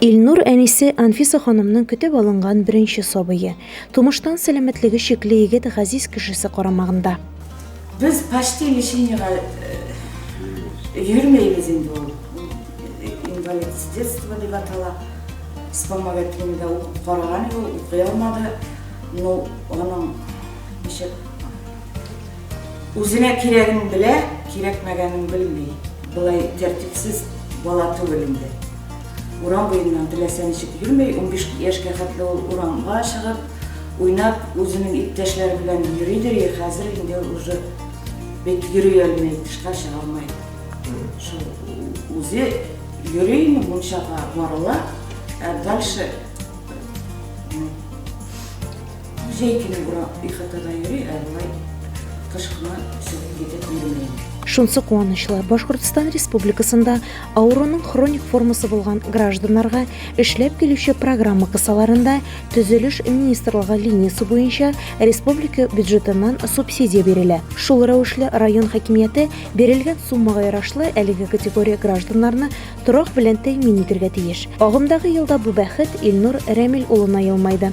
Илнур әнисе Анфиса ханымның көтеп алынган беренче сабые. Тумыштан сәламәтлеге чикле егет газиз кешесе карамагында. Без почти лечениегә йөрмәйбез инде ул. Инвалид с детства дип атала. Вспомогательныйда укып караган иде ул, укый алмады. Ну, аның ничек үзенә кирәген белә, кирәкмәгәнен белми. Болай тәртипсез бала түгел инде. Урам буеннан теләсә ничек йөрми, унбиш яшькә хәтле ул урамга чыгып, уйнап, үзенең иптәшләре белән йөридер иде, хәзер инде уже бит йөри алмый, тышка чыга алмый. Шул үзе йөри, мунчага барыла, ә дальше Җәй көне бура ихатада йөри, ә болай кыш кына чыгып китеп йөрми инде. Шунсы куанычлы, Башкортстан Республикасында авыруның хроник формасы булган гражданнарга эшләп килүче программа кысаларында Төзелеш министрлыгы линиясе буенча республика бюджетыннан субсидия бирелә. Шул рәвешле район хакимияте бирелгән суммага ярашлы әлеге категория гражданнарны торак белән тәэмин итергә тиеш. Агымдагы елда бу бәхет Илнур Рәмил улына елмайды.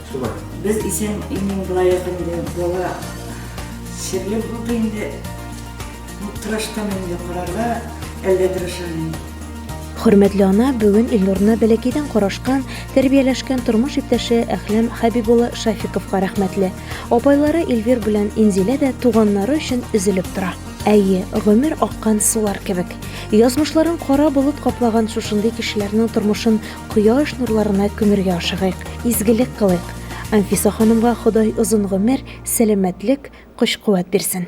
Шулай. Без исән имин булаек инде, бала серле булды инде. Ну, тырыштым инде карарга, әллә тырышам инде. Хөрмәтле ана бүген Илнурны бәләкәйдән карашкан, тәрбияләшкән тормыш иптәше Әхләм Хәбиб улы Шафиковка рәхмәтле. Апайлары Эльвир белән Инзилә дә туганнары өчен өзелеп тора. Әйе, гомер аккан сулар кебек. Язмышларын кара болыт каплаган шушындый кешеләрнең тормышын Кояш нурларына күмергә ашыгыйк, изгелек кылыйк! Анфиса ханымга Ходай озын гомер, сәламәтлек, көч-куәт бирсен!